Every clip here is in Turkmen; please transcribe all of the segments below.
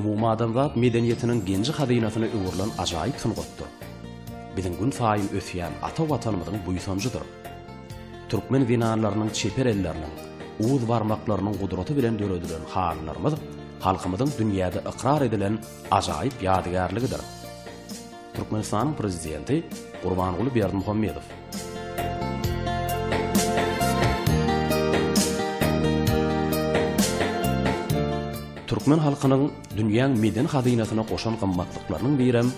Umumadamzat medeniýetiniň genji-hazynasyna öwrülen ajaýyp sungatdyr. Biziň gün saýyn ösýän ata Watanymyzyň buýsanjydyr. Türkmen zenanlarynyň çeper elleriniň, uz barmaklarynyň gudraty bilen döredilen halylarymyz halkymyzyň dünýäde ykrar edilen ajaýyp ýadygärligidir. Türkmenistanyň Prezidenti Gurbanguly Berdimuhamedow. Türkmen halkynyň dünýäň medeni hazynasyna goşan gymmatlyklarynyň birem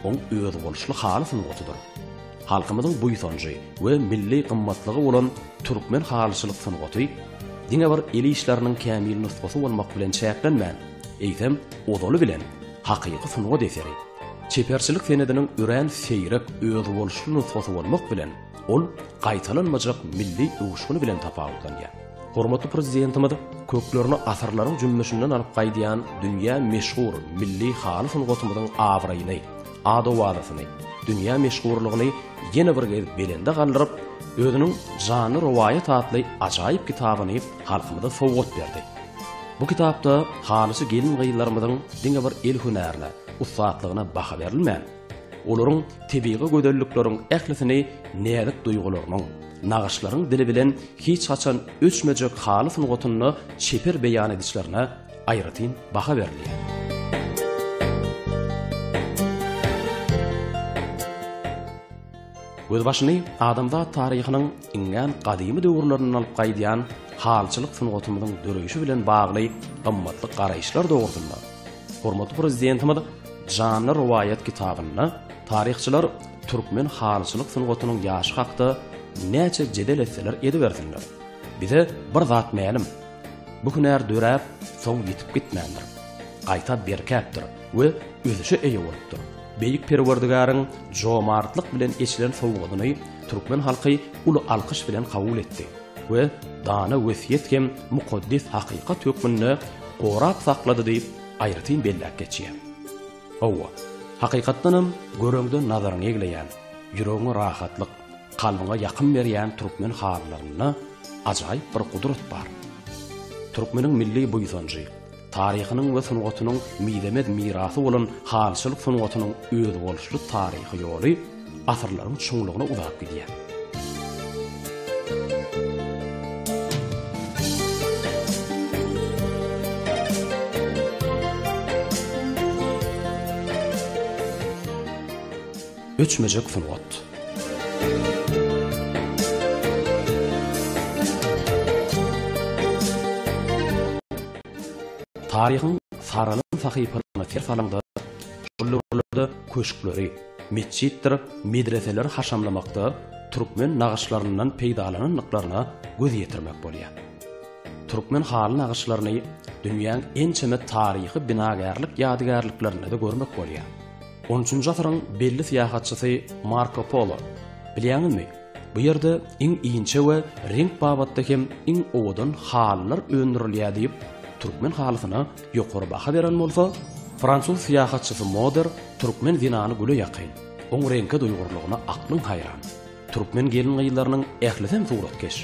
oň özboluşly haly sungatydyr. Halkymyzyň buýsanjy we milli gymmatlygy bolan türkmen halyçylyk sungaty diňe bir el işleriniň kämil nusgasy bolmak bilen çäklenmän, eýsem, ozaly bilen, Hakyky sungat eseri, çeperçilik senediniň örän seýrek, özboluşly nusgasy bolmak bilen, ol gaýtalanmajak milli öwüşgini bilen tapawutlanýar. Hormatly Prezidentimiz köklerini asyrlaryň jümmüşinden alyp gaýdýan dünýä meşhur milli haly sungatymyzyň abraýyny, ad-owazasyny, dünýä meşhurlygyny ýene bir gezek belende galdyryp, özüniň Janly rowaýat atly ajaýyp kitabyny halkymyza sowgat berdi. Bu kitapda halysy gelin-gyzlarymyzyň diňe bir el hünärine, ussatlygyna baha berilmän, olaryň tebigy gözellikleriň ählisini näzik duýgularynyň, nagyşlaryň dili bilen hiç haçan öçmejek haly sungatynda çeper beýan edişlerine aýratyn baha berilýär. Gözbaşyny adamzat taryhynyň iňňän gadymy döwürlerinden alyp gaýdýan halyçylyk sungatymyzyň döreýşi bilen bagly gymmatly garaýyşlar dogrusynda hormatly Prezidentimiz Janly rowaýat kitabynda taryhçylar türkmen halyçylyk sungatynyň ýaşy hakda näçe jedel etseler edibersinler, bize bir zat mälim, bu hünär döräp, soň ýitip gitmändir, gaýta berkäpdir. we ösüşe eýe bolupdyr. Beýik Perwerdigäriň jomartlyk bilen eçilen sowgadyny türkmen halky uly alkyş bilen kabul etdi we dana wesýet hem mukaddes hakykat hökmünde gorap saklady diýip, aýratyn belläp geçýär. Hawa, hakykatdanam, göreňde nazaryňy egleýän, ýüregiňe rahatlyk, kalbyňa ýakym berýän türkmen halylarynda ajaýyp bir gudrat bar. Türkmeniň milli buýsanjy, Taryhynyň we sungatynyň mizemez mirasy bolan halyçylyk sungatynyň özboluşly taryhy ýoly asyrlaryň çuňlugyna uzap gidýär. Öçmejek sungat. Taryhyň saralan sahypalaryna ser salaňda, şol döwürlerde köşkleri, metjitdir medreseleri haşamlamakda türkmen nagyşlaryndan peýdalanandyklaryna göz ýetirmek bolýar. Türkmen haly nagyşlaryny dünýäň ençeme taryhy binagärlik ýadygärliklerinde-de görmek bolýar. On üçünji asyryň belli syýahatçysy Marko Polo. Bilýäňizmi, bu ýerde iň inçe we reňk babatda hem iň owadan halylar öndürilýär diýip, türkmen halysyna ýokary baha beren bolsa, fransuz syýahatçysy Moder türkmen zenany güle ýakyn, oň reňke duýgurlygyna aklyň haýran. Türkmen gelin-gyzlarynyň ählisem suratkeş.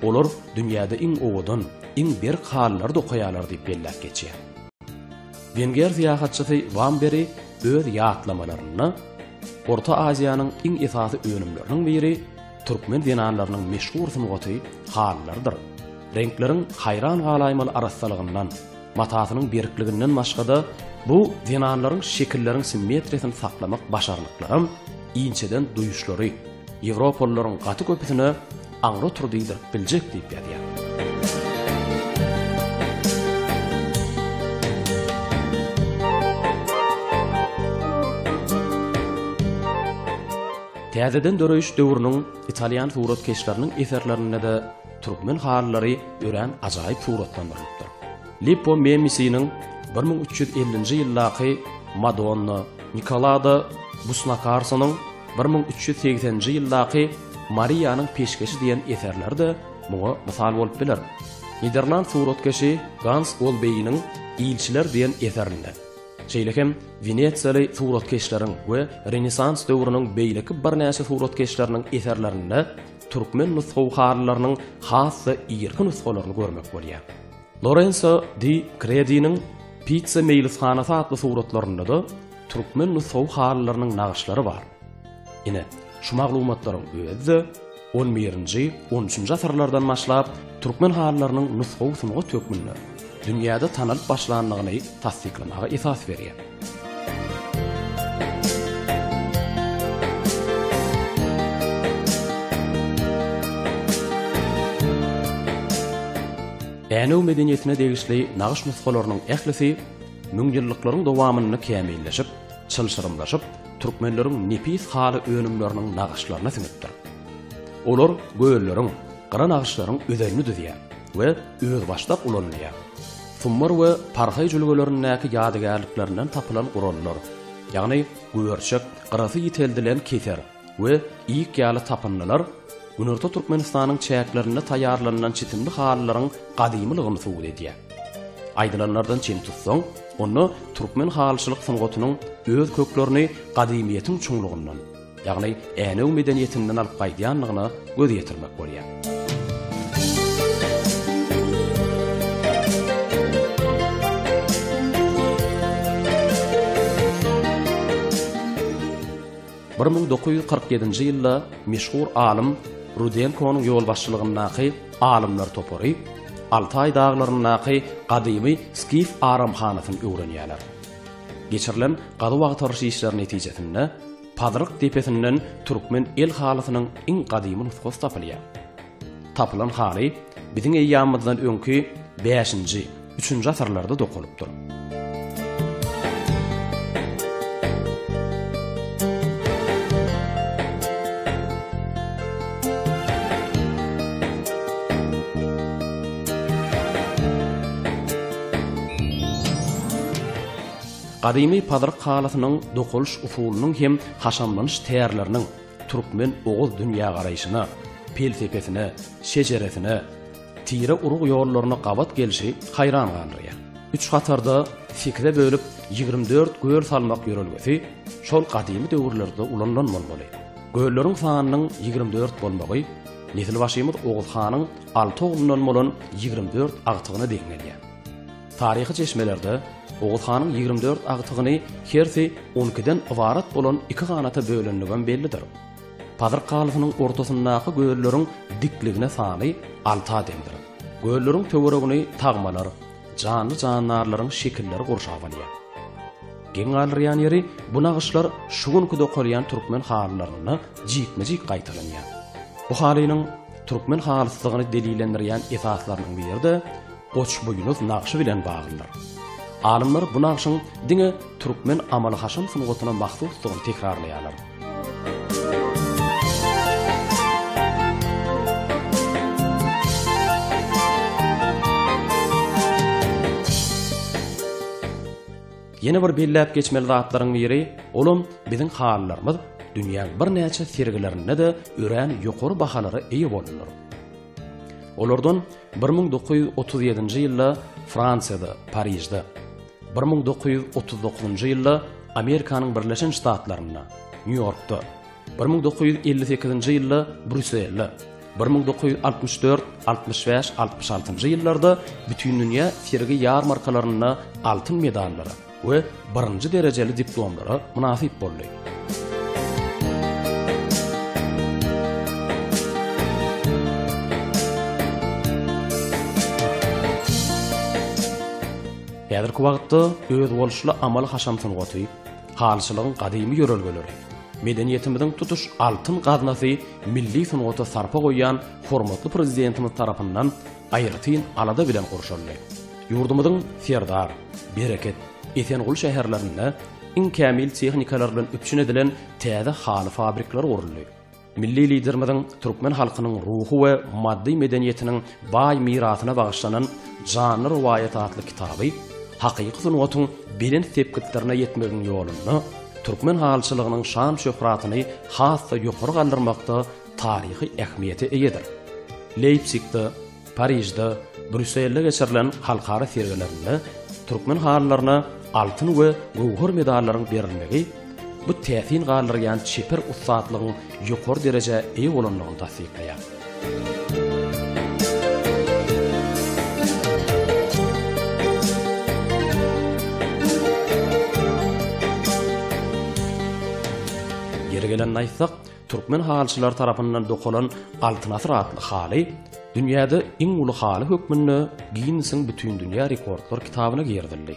Olar dünýäde iň owadan, iň berk halylary dokaýarlar diýip belläp geçýär. Wenger syýahatçysy Wamberi öz ýatlamalarynda Orta Aziýanyň iň esasy önümleriniň biri türkmen zenanlarynyň meşhur sungaty halylarydyr. Reňkleriň haýran galaýmaly arassalygyndan, matasynyň berkliginden başga-da, bu zenanlaryň şekilleriň simmetriýasyny saklamak başarnyklaram, inçeden duýuşlary ýewropalylaryň gaty köpüsine Aňry otur diýdirip biljek diýip ýazýar. Täzeden döreýiş döwrüniň italýan suratkeşleriniň eserlerinde-de türkmen halylary örän ajaýyp suratlandyrylypdyr. Lippo Memmisiniň bir müň üç ýüz ellinji ýyldaky Madonna, Nikolada Busnakarsonyň bir müň üç ýüz segsenji ýyldaky Mariýanyň peşgeşi diýen eserleri-de muňa mysal bolup biler. Niderland suratkeşi Gans Olbeýiniň Ilçiler diýen eserinde, şeýle hem wenesiýaly suratkeşleriň we Renesans döwrüniň beýleki birnäçe suratkeşleriniň eserlerinde türkmen nusgawy halylarynyň has-da irki nusgalaryny görmek bolýar. Lorenso di Krediniň Pizza meýlishanasy atly suratlarynda-da türkmen nusgawy halylarynyň nagyşlary bar. Ine, şu maglumatlaryň özi-de on birinji, on üçünji asyrlardan başlap, türkmen halylarynyň nusgawy sungat hökmünde dünýäde tanalyp başlandygyny tassyklamaga esas berýär. Änew medeniýetine degişli nagyş nusgalarynyň ählisi müňýyllyklaryň dowamynda kämilleşip, çylşyrymlaşyp, türkmenleriň nepis haly önümleriniň nagyşlaryna siňipdir. Olar gölleriň, gyra nagyşlaryň özenini düzýär we özbaşdak ulanylýar. Summar we Parhaý jülgelerindäki ýadygärliklerinden tapylan gurallar, ýagny güberçek, gyrasy ýiteldilen keser we ýik ýaly tapyndylar Günorta Türkmenistanyň çäklerinde taýýarlanylan çitimli halylaryň gadymylygyny subut edýär. Aýdylanlardan çen tutsaň, onda türkmen halyçylyk sungatynyň öz köklerini gadymyýetiň çuňlugyndan, ýagny Änew medeniýetinden alyp gaýdýandygyna göz ýetirmek bolýar. Bir müň dokuz ýüz kyrk ýedinji ýylda meşhur alym Rudenkonyň ýolbaşçylygyndaky alymlar topary Altaý daglaryndaky gadymy skif aramhanasyny öwrenýärler. Geçirilen gazuw-agtaryş işleri netijesinde Pazyryk depesinden türkmen el halysynyň iň gadymy nusgasy tapylýar. Tapylan haly biziň eýýamymyzdan öňki bäşinji, üçünji asyrlarda dokalypdyr. Gadymy pazyryk halysynyň dokalyş usulynyň hem haşamlanyş tärleriniň, Türkmen oguz dünýägaraýşyna, pelsepesine, şejeresine, tire-urug ýollaryna gabat gelşi haýran galdyrýar. Üç hatarda sekize bölüp ýigrimi dört göl salmak ýörelgesi şol gadymy döwürlerde ulanylan bolmaly. Gölleriň sanynyň ýigrimi dört bolmagy nesilbaşymyz Oguz hanyň alty oglundan bolan ýigrimi dört agtygyna deň gelýär. Taryhy çeşmelerde Oguz hanyň ýigrimi dört agtygyny hersi on ikiden ybarat bolan iki ganata bölendigem bellidir. Pazyr kalysynyň ortasyndaky gölleriň dikligine sany alta deňdir. Gölleriň töweregini tagmalar, janly-jandarlaryň şekilleri gurşap alýar. Geň galdyrýan ýeri, bu nagyşlar şu günki dokalýan türkmen halylarynda jikme-jik gaýtalanýar. Bu halynyň türkmen halysydygyny delillendirýän esaslarynyň biri-de, Goçbuýnuz nagşy bilen baglydyr. Alymlar bu nagşyň diňe türkmen amaly-haşam sungatyna mahsusdygyny tekrarlaýarlar. Ýene bir belläp geçmeli zatlaryň biri, olam biziň halylarymyz dünýäň birnäçe sergilerinde-de örän ýokary bahalara eýe boldular. Olardan Bir müň dokuz ýüz otuz ýedinji ýylda Fransiýada, Parižde, bir müň dokuz ýüz otuz dokuzynjy ýylda Amerikanyň Birleşen Ştatlarynda, Nýu-Ýorkda, bir müň dokuz ýüz elli sekizinji ýylda Brýusselde, bir müň dokuz ýüz altmyş dört, altmyş bäş, altmyş altynjy ýyllarda bütindünýä sergi-ýarmarkalarynda altyn medallara, we birinji derejeli diplomlara mynasyp boldy. Häzirki wagtda özboluşly amaly-haşam sungaty, halyçylygyň gadymy ýörelgeleri, medeniýetimiziň tutuş altyn gaznasy milli sungata sarpa goýýan hormatly Prezidentimiz tarapyndan aýratyn alada bilen gurşaldy. Ýurdumyzyň Serdar, Bereket, Esenguly şäherlerinde iň kämil tehnikalar bilen üpjün edilen täze haly fabrikleri guruldy. Milli Liderimiziň türkmen halkynyň ruhy we maddy medeniýetiniň baý mirasyna bagyşlanan Janly rowaýat atly kitaby hakyky sungatyň belent sepgitlerine ýetmegiň ýolunda türkmen halyçylygynyň şan-şöhratyny has-da ýokary galdyrmakda taryhy ähmiýete eýedir. Leýpsigde Parižde, Brýusselde geçirilen halkara sergilerinde türkmen halylaryna altyn we göwher medallaryň berilmegi bu täsin galdyrýan çeper ussatlygyň ýokary derejä eýe bolandygyny tassyklaýar. Ýeri gelende aýtsak, Türkmen halyçylary tarapyndan dokalan Altyn asyr atly haly dünýäde iň uly haly hökmünde Ginnesiň Bütindünýä rekordlar kitabyna girizildi.